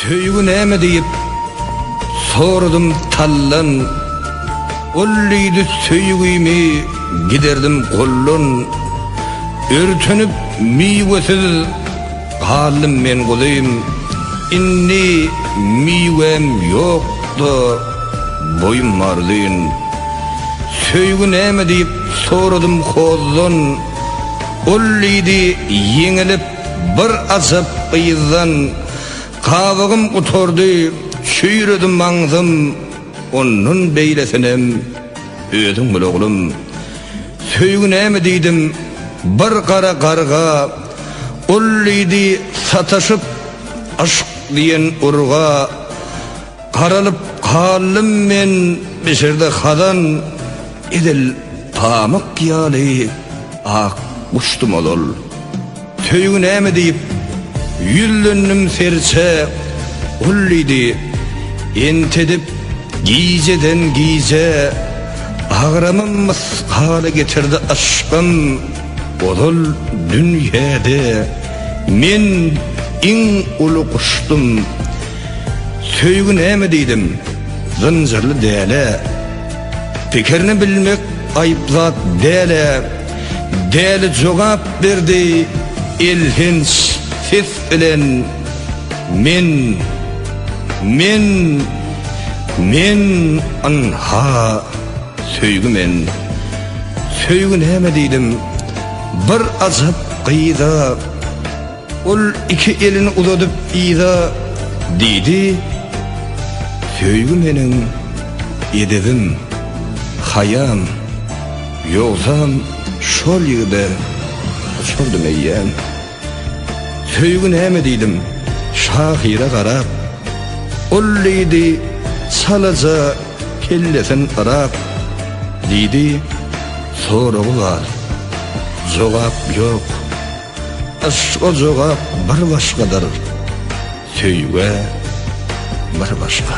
Söýgi näme diýip soradym tallan Ol diýdi söýgimi giderdim gollan Örtenip miwesiz galdym men guzym Indi miwem ýokda boýum marzyn Söýgi näme diýip soradym hozdan Ol diýdi, ýeňilip, bir ajap gyzdan, Gabygym gutardy, çüýredi maňzym, Ondan beýlesinem özüň bil, oglum. Söýgi näme diýdim, bir gara garga, Ol diýdi, sataşyp, yşk diýen urga. Garalyp galdym men bişirde hazan, Edil pamyk ýaly ak guşdum ol-ol. Söýgi näme diýip, ýüzlendim serçe, Ol diýdi, Entedip gijeden-gije, Agramy mysgala getirdi yşkym. Ozal dünýede men iň uly guşdum. Söýgi näme diýdim, zynjyrly däl-ä. Pikirini bilmek aýyp zat däl-ä. Däli jogap berdi elhenç ses bilen, Men, men, men, ynha, söýgi men. Söýgi näme diýdim, bir ajap gyza. Ol iki elini uzadyp yza diýdi, Söýgi meniň edebim, haýam, ýogsam şol ýigide goçardym eýýäm. Söýgi näme diýdim, şahyra garap, Ol diýdi, çalaja kellesin yrap, Diýdi, soragy bar, jogap ýok. Yşka jogap bir başgadyr, söýgä bir başga.